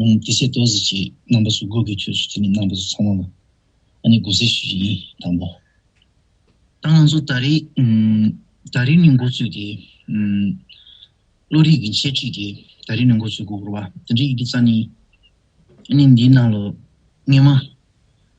ཡང་ཏི་སེ་ཏོ་ཟི་ཅེས་རྣམ་པ་སུ་དགུ་གི་དུས་སུ་དེ་ནི་རྣམ་པ་སུ་ཚང་མ་ལ་ཨ་ནི་དགུ་ཟེར་ཞེས་ཡིན་དང་པོ། ད་ང་ཚོ་ད་རེས་ད་རེས་ནས་འགོ་བཙུགས་ཏེ་བློ་རིག་གི་འཆད་ཁྲིད་དེ་ད་རེས་ནས་འགོ་བཙུགས་དགོས་སྐོར་བ་དེ་འདྲའི་ཡི་གེ་རྩ་ནི་ཨ་ནི་འདིའི་ནང་ལོ་ངེས་མ།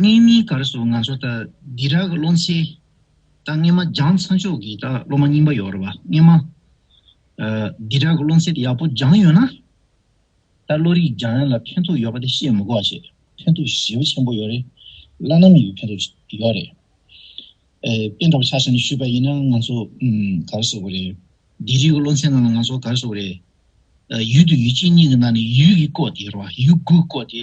གཉིས་གཉིས་གར་སོང་ང་ཚོ་ལྟ་འདི་རག་སློང་ཚེ། ད་སྔན་མ་སྦྱང་ཚ་མཆོག་གིས་ད་སློང་མ་རྙིང་པ་ཡོད་ར་བ་སྔན་མ། འདི་རག་སློང་ཚད་ཡག་པོ་སྦྱང་ཡོད་ན། ད་བློ་རིག་སྦྱང་ཡ་ལ་ཕན་ཐོགས་ཡོད་པ་དེ་བཤད་མི་དགོས་བྱས་ཕན་ཐོགས་ཞེ་བོ་ཆེན་པོ་ཡོད་རེད་བླ་ན་མེད་པའི་ཕན་ཐོགས་ཡོད་རེད། དཔེ་འདྲ་བོ་ཆགས་ཆགས་ནས་ཞུས་པ་ཡིན་ན་ང་ཚོ་གར་སོང་བ་རེད། འདི་རིག་སློང་ཚད་ནང་ལ་ང་ཚོ་གར་སོང་བ་རེད། ཡུལ་དུ་ཡུལ་གཅིག་གཉིས་ཀྱི་ནང་ནས་ཡུལ་གྱི་བཀོད་དེ་ར་བ་ཡུལ་དགུ་བཀོད་དེ་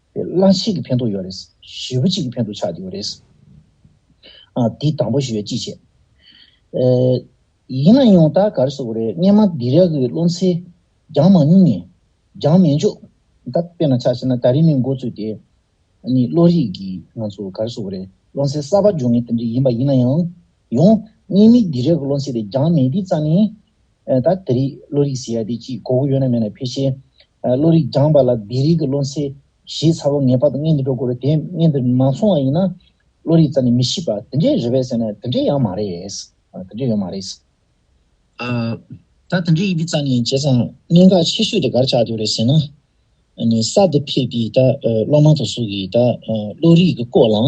པའི་གླང་ཤེས་ཀྱི་ཕན་ཐོགས་ཡོད་རེད། བཞི་བོ་གཅིག་གི་ཕན་ཐོགས་ཆགས་ཡོད་རེད། འདི་དང་པོ་ཞུ་བའི་ཅི་བྱེད། ཡིན་ན་ཡང་ད་གར་སོ་རེད་སྙན་མ་འདི་རག་གི་བློ་འཚེ་རྒྱང་མ་མྱུང་ནས་རྒྱང་མེད་འཇོག་ད་དཔེ་ན་ཆགས་ཤེས་ན་ད་རིང་ནས་མགོ་བཙུགས་ཏེ་ནི་བློ་རིག་གི་ང་ཚོ་གར་སོ་རེད་བློ་འཚེ་གསར་པ་འཇོག་ངེས་དེ་འདྲ་ཡིན་པ་ཡིན་ན་ཡང་ཡང་སྙན་མིག་འདི་རག་གི་བློ་འཚེ་དེ་རྒྱང་མེད་འདི་རྩ་ནས་ད་ལྟ་རིགས་བློ་རིག་ཟེར་ཡ་དེ་ཅི་གོ་གོ་ཡོད་ན་མེད་ན་ཕལ་ཆེར། བློ་རིག་སྦྱངས་པ་ལ་སྡེ་རིག་གི་བློ་འཚལ། ཞེས་ཚར་བ་ངེས་པར་དུ་བརྙན་འདི་འགྲོ་དགོས་རེད་དེ་བརྙན་འདི་མ་སོང་བ་ཡིན་ན། བློ་རིག་རྩ་ནས་མི་ཤེས་པ་དེ་འདྲས་རེད་བས་ཟེར་ན་དེ་འདྲས་ཡང་མ་རེད། དེ་འདྲས་ཡོད་མ་རེད། ད་དེ་འདྲས་ཡིན་པའི་རྩ་ནས་བྱས་ཙང་གནད་འགག་ཆེ་ཤོས་དེ་གར་ཆགས་འདུག་རེད་ཟེར་ན། གསར་དུ་ཕེབས་པའི་ད་སློབ་མ་དང་སུ་གིས་ད་བློ་རིག་གི་སྐོར་ལ།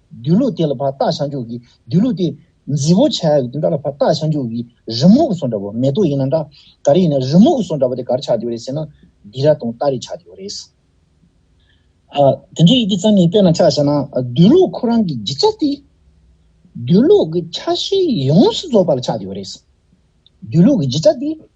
སྡོད་ལུགས་དེ་ལ་བར་ཏག་བྱང་ཆུབ་ཀྱི་སྡོད་ལུགས་དེ། རྫི་བོ་བྱ་ཡག་གི་དེ་འདྲ་ལ་བར་ཏག་བྱང་ཆུབ་ཀྱི་རི་མོ་གི་སོ་འདྲ་བོ་མེ་ཏོག་ཡིན་ན་འདྲ། ག་རེ་ཡིན་ན་རི་མོ་གི་སོ་འདྲ་བོ་དེ་གར་ཆགས་ཀྱི་ཡོད་རེད་ཟེར་ན། འདི་ར་དང་ལྟ་རེ་ཆགས་ཀྱི་ཡོད་རེད། དེ་འདྲའི་ཡི་གེ་གཙང་མའི་དཔེ་ན་ཆགས་བྱས་ན་སྡོད་ལུགས་ཁོ་རང་གི་སྒྱུ་རྩལ་དེ། སྡོད་ལུགས་ཀྱི་ཆ་ཤས་ཡོངས་སུ་རྫོགས་པ་ལ་ཆགས་ཀྱི་ཡོད་རེད། སྡོད་ལུགས་ཀྱི་སྒྱུ་རྩལ་དེ།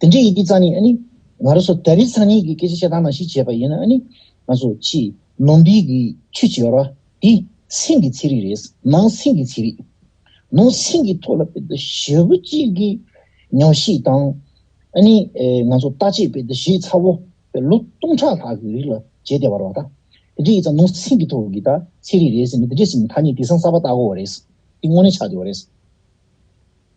དེ་འདྲའི་ཡི་གེ་གཙང་ནི་ཨ་ནི། ང་རོ་སོ་ད་རི་ཚང་ཉིད་ཀྱི་སྐད་ཆ་བཤད་སྟངས་ནང་བཞིན་བྱས་པ་ཡིན་ན་ཨ་ནི། ང་ཚོ་ཕྱི། ནོམ་བི་གི་ཆུ་བྱི་བར་བ། དེ། སིང་གི་ཚིག་རིགས་རེད། ནང་སིང་གི་ཚིག་རིགས། ནང་སིང་གི་ཐོག་ལ་དཔེ་དེབ་ཞེ་བོ་གཅིག་གི། ཉམས་བཞེས་དང། ཨ་ནི། ང་ཚོ་ལྟ་ཆེད་དཔེ་དེབ་བཞེས་ཚ་བོ། དཔེ་ལོ་སྟོང་ཕྲག་ལྷག་གི་རིགས་ལ་བྱས་ཏེ་བར་བ་ད། དེ་འདྲའི་ཡིག་ཚང་ནང་སིང་གི་ཐོག་གི་ད་ཚིག་རིགས་རེད་ཟེར་ནས་དེ་འདྲའི་སིང་གི་ཐ་སྙད་དེ་སང་གསར་པ་བཏགས་དགོས་བ་རེད། དེ་དངོས་གནས་ཆགས་ཡོད་བ་རེད།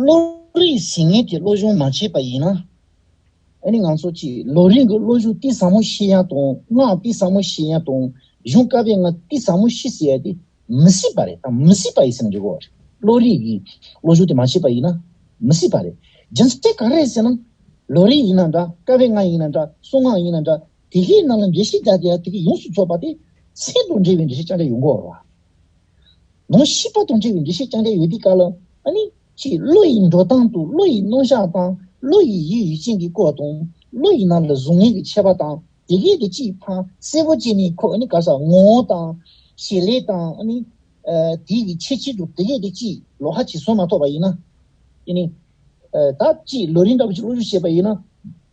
བློ་རིག་ཟིན་ངེས་ཀྱི་བློ་སྦྱོང་མ་བྱས་པ་ཡིན་ན། ཨ་ནི་ང་ཚོ་ཀྱིས་བློ་རིག་གི་བློ་གཞུག་ཏི་ཟབ་མོ་ཤེས་ཡ་དང་སྔགས་ཏི་ཟབ་མོ་ཤེས་ཡ་དང་གཞུང་བཀའ་བའི་སྔགས་ཏི་ཟབ་མོ་ཤེས་ཟེར་ཡ་དེ་མི་སྲིད་པ་རེད་དང་མི་སྲིད་པ་ཡི་སེམས་འཇུག་གོ། བློ་རིག་གི་བློ་གཞུག་དེ་མ་བྱས་པ་ཡིན་ན་མི་སྲིད་པ་རེད། རྒྱུ་མཚན་ག་རེད་ཟེར་ན། བློ་རིག་ཡིན་ན་འདྲ་བཀའ་བའི་སྔགས་ཡིན་ན་འདྲ་གསུང་སྔགས་ཡིན་ན་འདྲ་དེ་གའི་ནང་ལ་འགྲེལ་བཤད་རྒྱག་དེ་ཡ་དེ་གའི་ཡོངས་སུ་རྫོགས་པ་དེ་ཚད་དང་འབྲེལ་བའི་འགྲེལ་བཤད་ཅང་ཅི་ཡོད་མགོ་བོར་བ། ནོ། ཤི་པ་དང་བྲལ་བའི་འདུ་ཤེས་རྐྱང་བྲལ་ཡོད་དུས་ག་ལ། ནི། ཅི། བློ་ཡི་འགྲོ་སྟངས་དང་བློ་ཡི་རྣོ་གཞག་སྟངས། བློ་ཡི་ཡིད་ཡུལ་ཅན་གྱི་སྐོར་དང། བློ་ཡི་ནང་ལ་གཟུགས་བརྙན་གྱི་ཆད་པ་དང། དེ་གའི་དེ་ཅིས་འཕངས། གསལ་པོ་བཅས་ནི་ཁོ། ག་ས། ངོ་བོ་དང། ཞེས་ལས་དང། ནི། དེ་ཡི་ཆེད་ཆེད་དུ་དེ་གའི་དེ་ཅིས། ལོ་ཧ་ཅིས་སོ་མ་ཐོགས་པ་ཡིན་ན། ནི། ད། ཅིས་ལོ་རིན་ཏྲ་བུ་ཅིས་བློ་ཡུལ་བྱེད་པ་ཡིན་ན།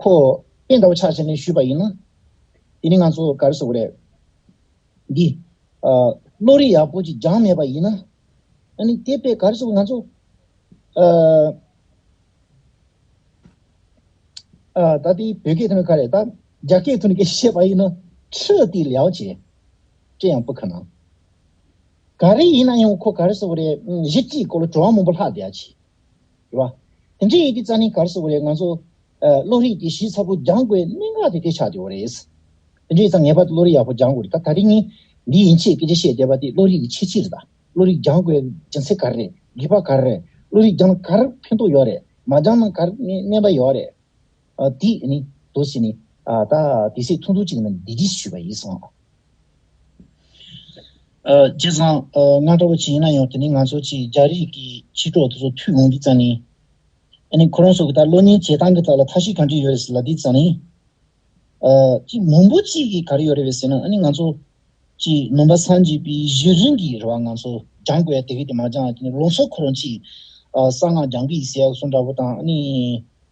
ཁོ་བོས་འདྲ་བོ་ཆགས་བྱས་ནས་ཞུས་པ་ཡིན་ན། དེ་ནི་ང་ཚོ་ག་རེ་བཟོ་གི་རེད། འདི། བློ་རིག་ཡག་པོ་ཅིག་སྦྱངས་མེད་པ་ཡིན་ན། ཨ་ནི་དེ་དཔེ་ག་རེ་བཟོ་གི་ང་ཚོ། ད་དེ་བོད་སྐད་དུ་ནི་ག་རེ་ད་རྒྱ་སྐད་དུ་ནི་ག་རེ་བཤད་པ་ཡིན་ན། ཁྲི་ཏི་ལའོ་ཅེ། ཅེ་ཡང་པུ་ཁ་ན། ག་རེ་ཡིན་ན་ཡང་ཁོ་ག་རེ་བཟོ་གི་རེད་གཞི་བཅིག་གོ་ལ་བྲོ་བ་མང་པོ་ལྷག་བསྡད་ཡ་ཆི། དྲི་བ། དེ་འདྲའི་ཡི་གེ་རྩ་ནི་གར་སོ་བ་ལས་ང་ཚོ། བློ་རིག་གི་གཞི་ཚ་པོ་སྦྱང་དགོས་གནད་འགག་དེ་དེ་ཆགས་ཡོད་རེད། དེ་འདྲའི་རྩ་ངེས་པར་དུ་བློ་རིག་ཡག་པོ་སྦྱང་དགོས་རེད་ད་ད་རིང་ནི། འདི་ཡིན་ཆེས་སྐད་ཆ་བཤད་བསྡད་པ་དེ་བློ་རིག་གི་ཆེས་ཕྱིར་རེད། བློ་རིག་སྦྱང་དགོས་སྦྱིན་སྲེག་གར་རེད་རྒྱུས་པ་གར་རེད་བློ་རིག་སྦྱངས་ན་གར་ཕན་ཐོགས་ཡོད་རེད་མ་སྦྱངས་ན་གར་ནི་གནད་འབའ་ཡོད་རེད། དེ་ནི་དོ་བྱས་ནས། ད་དེ་སྲས་ཐུང་ཐུང་ཅིག་རྣམས་སྡིག་སྒྲིབ་ཞུས་པ་ཡིན་གསུང་ངོ། རྗེ་བཟང། ང་འདྲ་བོ་ཅིག་ཡིན་ན་ཡང་དེ་ནི་ང་ཚོ་ཆེས་རྒྱ་རིགས་ཀྱི་ཕྱི་དྲོ་དེ་ཚོ་ཐུགས་འོང་གི་རྩ་ནི། ཨ་ནི་ཁོ་རང་ཚོ་གི་ད་བློ་ཉིང་བྱེད་སྟངས་ཀྱི་ཐོག་ལ་མཐའ་བཞི་གང་ཅི་ཡོད་རེད་ཟེར་ལ་དེའི་རྩ་ནི། ཅིག་མུན་པོ་གཅིག་གི་ག་རེ་ཡོད་རེད་བས་ཟེར་ན་ཨ་ནི་ང་ཚོ། ཅིག་ནོམ་པ་སངས་རྒྱས་པའི་གཞི་རིམ་གྱི་རེ་བ་ང་ཚོ་སྦྱང་དགོས་ཡ་དེ་གས་དེ་མ་སྦྱངས་ལ་དེ་ནི་ལོ་འཚོ་ཁོ་རང་ཅིག་གསང་སྔགས་སྦྱང་གི་ཡིན་ཟེར་ཡ་གསུང་འདྲ་བོ་དང་ཨ་ནི།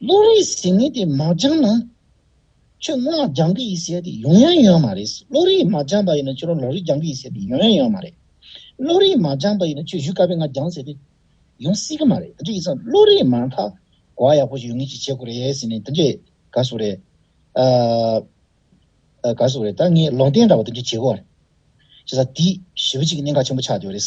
བློ་རིག་ཟིན་ནི་དེ་མ་སྦྱངས་ན། ཆོས་སྔོན་ལ་སྦྱང་གི་ཡིན་ཟེར་ཏེ་ཡང་ཡང་ཡོང་ཡ་མ་རེད། བློ་རིག་མ་སྦྱངས་པ་ཡིན་ན་ཁྱོད་རང་ལོ་རིག་སྦྱང་གི་ཡིན་ཟེར་ཏེ་ཡང་ཡང་ཡོང་ཡ་མ་རེད། བློ་རིག་མ་སྦྱངས་པ་ཡིན་ན་ཁྱོད་བཞུགས་སྐལ་པས་ང་སྦྱངས་ཟེར་ཏེ་ཡོང་སྲིད་གི་མ་རེད། དེ་འདྲ་ཡིན་ཙང་བློ་རིག་མ་མཐའ་དགོས་བ་ཡག་པོ་ཞིག་ཡོང་ངེས་ཅིག་བྱེད་དགོས་རེད་ཟེར་ནས་དེ་འདྲའི་དགའ་བསུ་རེད། དགའ་བསུ་རེད་ད་ངས་ལོང་བསྟན་འདྲ་བོ་དེ་འདྲ་བྱེད་དགོས་བ་རེད། བྱས་ཙང་དེས་ཞི་བ་གཅིག་གི་གནད་འགག་ཆེན་པོ་ཆགས་ཡོད་རེད།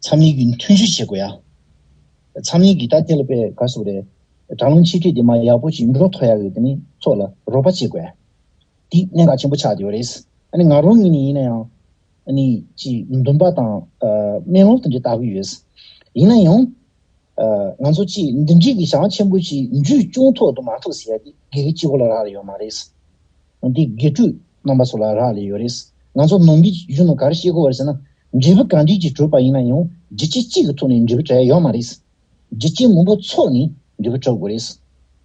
འཚམས་གླིང་གི་མཐུན་བཞུགས་བྱེད་དགོས་ཡ། འཚམས་གླིང་གི་རྟ་དེ་ལ་པའི་ག་སུག་རེད། དྲག་རླུང་ཆེ་གྲས་དེ་མ་ཡག་པོ་ཅིག་འགྲོ་ཐོ་ཡག་ཡོད་དེ་ནི་ཚོགས་ལ་རོགས་པ་བྱེད་དགོས་ཡ། དེ་གནད་འགག་ཆེན་པོ་ཆགས་ཡོད་རེད། ཨ་ནི་ང་རང་ཉིད་ནས་ཡིན་ན་ཡང། ཨ་ནི་ཅིག་འདུན་པ་དང་སྨན་ལོག་དེ་འདྲ་བལྟ་གི་ཡོད། ཡིན་ན་ཡང། ང་ཚོ་ཅིག་འདི་འདྲིས་ཀྱི་ཞག་ཆེན་པོ་ཅིག་འཇུས་སྐྱོང་ཐོག་ཏུ་མ་ཐུག་ཟེར་ཡ་དེ་དགེ་རྒན་སྤྱི་བོ་ལ་རག་ལ་ཡོད་མ་རེད། འདི་དགེ་སྤྲུལ་རྣམ་པ་ཚོ་ལ་རག་ལས་ཡོད་རེད། ང་ཚོ་ནང་གི་གཞོན་ནུ་གར་ཤེས་གོ་བར་ཟེར་ན། འབྲས་བུ་ག་འདྲིས་ཀྱིས་གྲུབ་པ་ཡིན་ན་ཡང་རྒྱུ་རྐྱེན་གཅིག་གི་ཐོག་ནས་འབྲས་བུ་བྲལ་ཡོད་མ་རེད། རྒྱུ་རྐྱེན་མང་པོ་ཚོགས་ནས་འབྲས་བུ་གྲུབ་དགོས་རེད།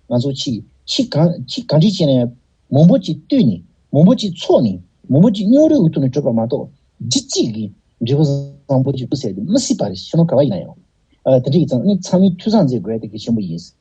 ང་ཚོ་ཕྱིས་ཕྱིས་གང་ཕྱིས་ག་འདྲིས་བྱས་ནས། མང་པོ་ཅིག་བཏུས་ནས་མང་པོ་ཅིག་ཚོགས་ནས་མང་པོ་ཅིག་སྙོག་རུས་ཀྱི་ཐོག་ནས་གྲུབ་པ་མ་གཏོགས་རྒྱུ་གཅིག་གིས་འབྲས་བུ་བཟང་པོ་ཅིག་ཐུག་ཟེར་དུ་མི་སྲིད་པ་རེད་ཤེས་ན་ག་བ་ཡིན་ན་ཡང། དེ་འདྲ་ཡིན་ཙང་ནི་ཚང་མས་འཐུས་ཚང་མཛད་དགོས་དེ་གལ་ཆེན་པོ་ཡིན།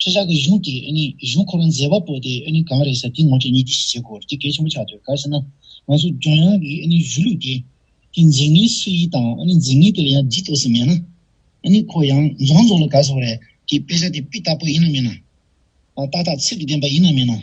ཁྱེད་ཅག་གི་གཞུང་དེ་གཞུང་ཁོ་རང་མཛད་པ་པོ་དེ་གང་རེད་ཟེར་དེའི་ངོ་སྤྲོད་གཉིས་དེ་བཞིན་བྱེད་དགོས་དེ་གལ་ཆེན་པོ་ཆགས་ཡོད་ག་ཟེར་ན། ང་ཚོ་ལྗོངས་ཡོངས་ཀྱི་གཞུ་ལུགས་དེ་དེ་འཛིན་མཁན་སུ་ཡིན་དང་འཛིན་མཁན་དེ་ལ་ཡང་ལྗིད་ཐོགས་སུ་མེད་ན། ཁོ་ཡང་རྫོང་རྫོང་ལ་ག་ཟེར་བ་རེད་དེ་དཔེ་ཆ་དེ་དཔེ་དག་པོ་ཡིན་ནམ་མིན་ན། ཏག་ཏག་ཚིག་གི་བདེན་པ་ཡིན་ནམ་མིན་ན།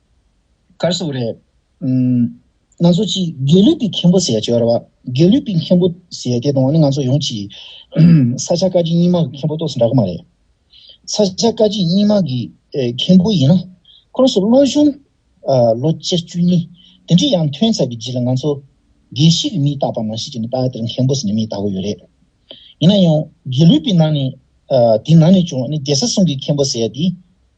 གར་སོང་རེད། ང་ཚོ་གཅིག་དགེ་ལུགས་པའི་མཁན་པོ་ཟེར་ཅོར་བ་དགེ་ལུགས་པའི་མཁན་པོ་ཟེར་དེ་དང་ང་ཚོ་ཡོངས་ཀྱིས་ས་ཆ་བཀའ་སྤྱི་རྙིང་མ་གི་མཁན་པོ་གཏོགས་སུ་འདྲ་གི་མ་རེད། ས་ཆ་བཀའ་སྤྱི་རྙིང་མ་གི་མཁན་པོ་ཡིན་ན་ཁོ་རང་ཚོ་བློ་གཞུང་ལོ་བཅུ་བཅུ་གཉིས་དེ་འདྲའི་ཡང་ཐོན་ཚར་བའི་རྗེས་ལ་ང་ཚོ་དགེ་བཤེས་ཀྱི་མིང་བཏགས་པ་ནང་བཞིན་གྱི་ནི་ད་དེར་མཁན་པོ་ཟེར་ནས་མིང་བཏགས་གི་ཡོད་རེད། ཡིན་ན་ཡང་དགེ་ལུགས་པའི་ནང་ནས་དེའི་ནང་ནས་ཀྱང་ནི་རྒྱལ་ས་སྲུང་གི་མཁན་པོ་ཟེར་དེ་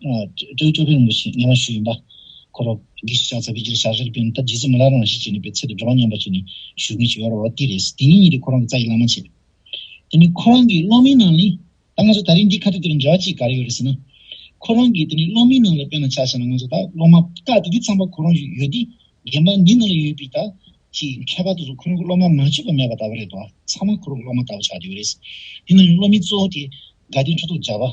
སྟོན་བཅོ་བརྒྱད་རིན་པོ་ཆེའི་སྙན་ངག་ཞུ་ཡིན་པ། ཁོ་རོ་གི་ཤ་ཚ་བའི་རྗེས་ཤ་ཟེར་དཔོན་ཐབས་རྗེས་སེམས་ལ་རང་བཞིན་ཅན་ནི་པའི་ཚད་དུ་འགྲོ་བ་སྙམ་པ་ཞིག་ནི་ཞུ་མཁན་ཞིག་ཡོད་རེད་བ་དེ་རེད་དེ་ནི་ཉིད་ཀྱི་ཁོ་རང་གི་རྩ་ཡི་བླ་མ་བྱས། དེ་ནི་ཁོ་རང་གི་སློབ་མའི་ནང་ནི། ད་ང་ཚོ་ད་རིང་འདི་ཁ་བརྡ་དེར་འབྲེལ་བ་ཅི་ག་རེ་ཡོད་རེད་ཟེར་ན། ཁོ་རང་གི་དེ་ནི་སློབ་མའི་ནང་ལ་དཔེར་ན་ཆ་བྱས་ན་ང་ཚོ་ད་སློབ་མ་ཀ་དེ་དེ་ཚང་པ་ཁོ་རང་ཞིག་ཡོད་དེ། རྒན་པ་འདི་ནང་ལ་ཡོད་པའི་ད་ཅི་ཁྱད་པར་དུ་སོང་ཁོ་རང་གི་སློབ་མ་མ་བྱོས་པ་མེད་པ་ད་བ་རེད་བ་ཚང་མ་ཁོ་རང་གི་སློབ་མ་ད་བ་ཆགས་ཀྱི་ཡོད་རེད། དེ་ནང་ནི་སློབ་མའི་གཙོ་བོ་དེ་དགའ་ལྡན་ཁྲི་ཚོགས་རྒྱ་བ།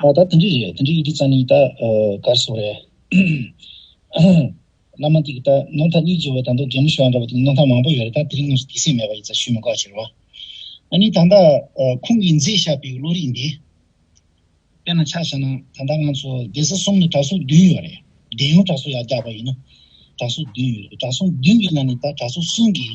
ད་དེ་འདྲས་རེད་དེ་འདྲས་ཡིན་དུས་ཙང་ནི་ད་གར་སོང་རེད། བླ་མ་འདིས་ད་ནོར་ཐ་གཉིས་བརྗེ་བ་དང་དོ་རྒྱལ་མོ་ཞོ་ཨ་འདྲ་བ་དེ་ནོར་ཐ་མང་པོ་ཡོད་རེད་ད་དེ་རིང་ངོས་སུ་དེ་སྲིད་མེད་པ་ཡིན་ཙང་ཞུས་མི་དགོས་ཟེར་བ། ཨ་ནི་ད་ལྟ་ཁོང་གིས་མཛད་བཞག་པའི་བློ་རིག་འདི། དཔེར་ན་ཆ་བཞག་ན་ད་ལྟ་ང་ཚོ་སྡེ་སྲིད་གསུམ་ནི་གྲྭ་ཟུང་བདུན་ཡོད་རེད་སྡེ་ཡོངས་གྲྭ་ཟུང་ཡར་རྒྱག་པ་ཡིན་ན་གྲྭ་ཟུང་བདུན་ཡོད་རེད་གྲྭ་ཟུང་བདུན་གྱི་ནང་ནས་ད་གྲྭ་ཟུང་གསུམ་གྱིས་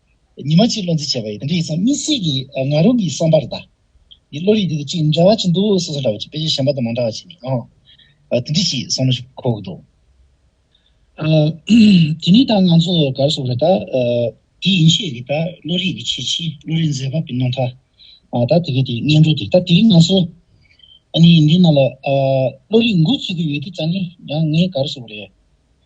ཉི་མ་གཅིག་བློ་འཛིན་བྱས་པ་ཡིན། རིགས་སམ་མི་སྲིད་ཀྱི་ང་རང་གི་བསམ་པར་ད། ཡི་བློ་རིག་དེ་དང་གཅིག་འདྲ་བ་ཅིག་འདུག་སོ་སོ་འདྲ་བ་ཅིག་དཔེ་ཆ་གཞན་པ་དང་མ་འདྲ་བ་ཅིག་ནི་ཨང། དེ་འདྲ་ཞིག་བསམ་བློ་འཁོར་གི་འདུག། དེ་ནི་ད་ང་ཚོ་གར་སོང་རེད་ད། དེ་ཡིན་ཤས་ཀྱི་ད་བློ་རིག་གི་ཆེས་ཆེ་བློ་རིག་མཛེས་པ་པི་ནོ་ཐ། ད་དེ་གའི་དེ་སྙན་སྒྲོག་དེ་ད་དེ་རིང་ང་ཚོ་ཨ་ནི་འདི་ན་ལ་བློ་རིག་འགུག་བརྩི་གི་ཡོད་དེ་ད་ནི་ཡང་ངས་གར་སོང་རེད།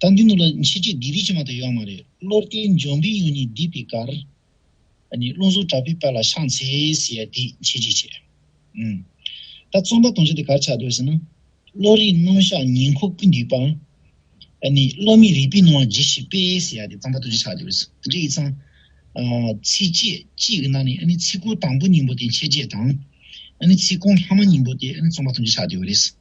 དང་གི་ནུབ་ལ་མཆེད་ཁྲི་བདུད་རིགས་ཕྱི་མ་དུ་ཡོད་མ་རེད་བློ་བརྟན་འབྱུང་པོའི་གཡུ་ནི་སྡིག་པའི་གར། རླུང་གཟུགས་དྲག་པོའི་དཔལ་ལ་ཕྱག་འཚལ་ཟེར་ཡ་དེས་མཆེད་ཁྲི་ཆེ། ད་རྩོམ་པ་དོང་ཅན་དེ་གར་ཆགས་འདོད་ཟེར་ན། བློ་རིག་རྣམ་གཞག་ཉིང་ཁུ་ཀུན་འདུས་པ། བློ་མིག་རིག་པའི་སྣང་བ་ཇི་བཞིན་དཔལ་ཟེར་ཡ་དེ་རྩོམ་པ་དོང་ཅན་ཆགས་འདོད་ཟེར་དེ་འདྲ་ཡིན་ཙང། ཚིགས་བཅད་གཅིག་གི་ནང་ནས་ཚིག་གོང་དང་པོ་སྙིང་པོ་དེ་མཆེད་ཁྲི་དང། ཚིག་གོང་ལྷག་མ་སྙིང་པོ་དེ་རྩོམ་པ་དོང་ཅན་ཆགས་འདོད་རེད།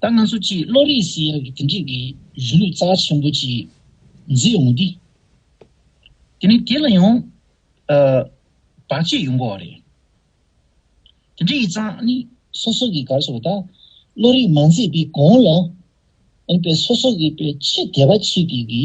ད་ང་ཚོ་སྤྱིའི་བློ་རིག་སི་ཡ་གི་དེ་འགྲིག་གི་གཞུ་ལུགས་རྩ་ཆེན་པོ་གཅིག་འཛིན་ཡོང་དེ། དེ་ནི་དེ་ལ་ཡང། བར་ཆད་ཡོང་དགོས་བ་རེད། དེ་འདྲ་ཡི་ཙང་ནི་སོ་སོ་གི་གར་སོགས་ད་བློ་རིག་མ་མཛེས་པའི་གོང་ལ། ཨ་ནི་པའི་སོ་སོ་གི་པའི་ཆེས་དད་པ་ཆེ་གི་གི་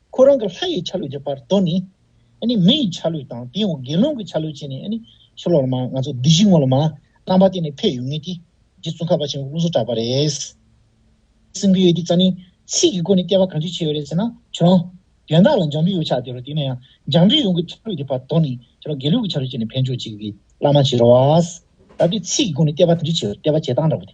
ཁོ་རང་གི་ལྷ་ཡི་ཆ་ལུགས་ཀྱི་བར་དོ་ནི། མི་ཡི་ཆ་ལུགས་དང་དེའི་འོག་དགེ་སློང་གི་ཆ་ལུགས་བྱས་ནས། ཆོས་ལོག་ལ་མང་ང་ཚོ་སྡིག་གཞི་ངོ་ལ་མང། རྣམ་པ་དེ་ནི་ཕས་ཡོད་ངེས་ཏེ། རྗེ་བཙུན་ཁ་བ་ཆེན་པོས་ཀུན་སོགས་བསྒྲགས་པ་རེད། སེམས་ཀྱི་ཡོད་དེ་རྩ་ནི། ཚིག་གི་སྒོ་ནས་བསྐལ་པ་གང་ཅིའི་ཆེ་བ་རེད་ཟེར་ན། ཁྱོད་རང། དོན་དག་ལ་འཇམ་པོའི་ཡོ་བྱད་དེ་རུ་དེ་ན་ཡང། འཇམ་པོའི་ཡོངས་ཀྱི་ཆ་ལུགས་ཀྱི་བར་དོ་ནི། ཁྱོད་རང་དགེ་སློང་གི་ཆ་ལུགས་བྱས་ནས་ཕན་ཆོག་ཅིག། བླ་མ་བྱི་རོ་བ། ད་པའི་ཚིག་གི་སྒོ་ནས་བསྐལ་པ་གང་ཅིའི་ཆེ་བ་བསྐལ་པ་བྱེ་ཐང་འདྲ་བོ་དེ།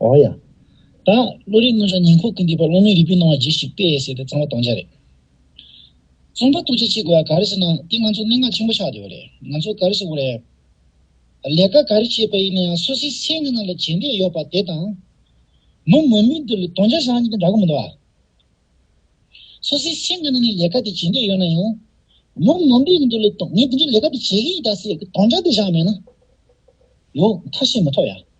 འོང་ཡང། ད་བློ་རིག་མངོན་བྱང་ཉིང་ཁུ་ཀུན་འདུས་པ་བློ་མིག་རིལ་བུས་སྣང་བ་གྱིས་ཤིག་པས་ཟེར་ཏེ་གཙང་བ་གཏོང་འཆར་རེད། རྩོམ་པ་ཏུ་ཅི་བྱེད་དགོས་ཡ་ག་རེ་བྱེད་ན་འདི་ང་ཚོ་གནད་འགག་ཆེན་པོ་ཆགས་བསྡད་པ་རེད་ང་ཚོ་ག་རེ་བྱེད་དགོས་རེད། ལས་ཀ་ག་རེ་བྱེད་པ་ཡིན་ན་ཡང་སུ་སིའི་སེམས་ངན་ན་ལ་བྱེད་འདོད་ཡོད་པ་དེ་དང། མི་མང་པོས་འདི་ལ་གདོང་འཇགས་བྱ་རྒྱུ་དེ་འདྲ་གི་མི་འདུག་ཨ། སུ་སིའི་སེམས་ངན་ན་ནི་ལས་ཀ་དེ་བྱེད་འདོད་ཡོད་ན་ཡང། མི་མང་པོས་འདི་ལ་ངས་འདི་འདྲའི་ལས་ཀ་དེ་བྱེད་གི་ཡིན་ད་ཟེར་གི་གདོང་འཇགས་དེ་བཞག་མེད་ན། ཡོད་མཐའ་ཤེས་མི་ཐུབ་ཡ།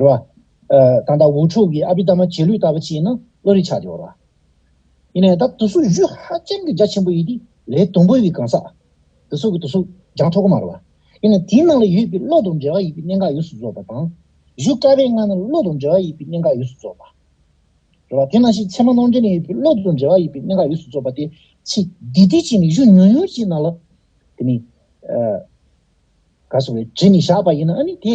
རུ་བ། དང་ད་ཝུ་ཕྲུག་གི་ཨ་བྷི་ད་མ་རྗེས་ལུས་ལྟ་བུ་བྱས་ན་བློ་རིག་ཆགས་ཏེ་འོར་བ། ཡིན་ནའི་ད་དུ་སུག་བཞུ་ཧ་ཅང་གི་རྒྱ་ཆེན་པོ་ཡིན་ཏེ་ལས་དུམ་བུ་ཡི་གང་ཟག། དུ་སུག་གི་དུ་སུག་རྒྱང་ཐོ་གོ་མ་རུ་བ། ཡིན་ནའི་དེའི་ནང་ལ་ཡོད་པའི་བློ་དང་འབྲེལ་བ་ཡོད་པའི་གནད་འགག་ཡོངས་སུ་རྫོགས་པ་དང། བཞུ་དཀའ་བའི་སྔ་ན་བློ་དང་འབྲེལ་བ་ཡོད་པའི་གནད་འགག་ཡོངས་སུ་རྫོགས་པ། རུ་བ། དེ་ནང་བཞིན་ཚད་མ་ནང་འདྲེན་ནས་ཡོད་པའི་བློ་དང་འབྲེལ་བ་ཡོད་པའི་གནད་འགག་ཡོངས་སུ་རྫོགས་པ་སྟེ། ཚེ་འདི་དུས་གཅིག་ནས་བཞུ་ཉུང་ཉུང་གཅིག་ནང་ལ། དེ་ནི། ག་སོགས་པའི་དྲི་ནི་བཞག་པ་ཡིན་ན་ནི་དེ།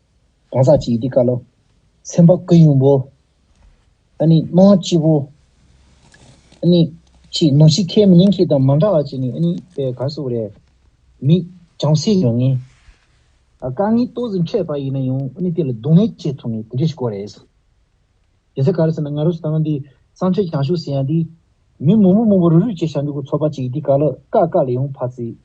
གང་ཟག་གཅིག་འདི་ཀ་ལོ། སེམས་དཔའ་སྐུ་གཡུང་པོ། ཨ་ནི་སྣང་བ་སྐྱིད་པོ། ཨ་ནི། ཅེས་ནོ་ཞིག་ཁས་མི་ལེན་ཁྱེད་དང་མ་འདྲ་བ་ཅིག་ནི་ཨ་ནི་པའི་གར་སོགས་རེད། མི། བྱང་སེ་ཡོད་ངེས། དཀའ་ངལ་ལྟོ་ཟིན་འཕྲད་པ་ཡིན་ན་ཡང་ཨ་ནི་དེ་ལ་སྡུག་བསྔལ་སྐྱེ་ཐུབ་ངེས་དེ་འདྲ་ཞིག་གོ་རེད། རྒྱལ་སྲས་གར་ཟེར་ན་ང་རུ་སྟངས་འདི་སང་ཆོས་བྱང་ཤུགས་ཟེར་ཡང་འདི། མི་མོ་མོ་མོ་བོ་རུ་རུ་བྱེད་བྱ་འདུག་གོ་ཚོགས་པ་ཅིག་འདི་ཀ་ལོ་ཀ་ཀ་ལ་ཡང་ཕ་ཚིག།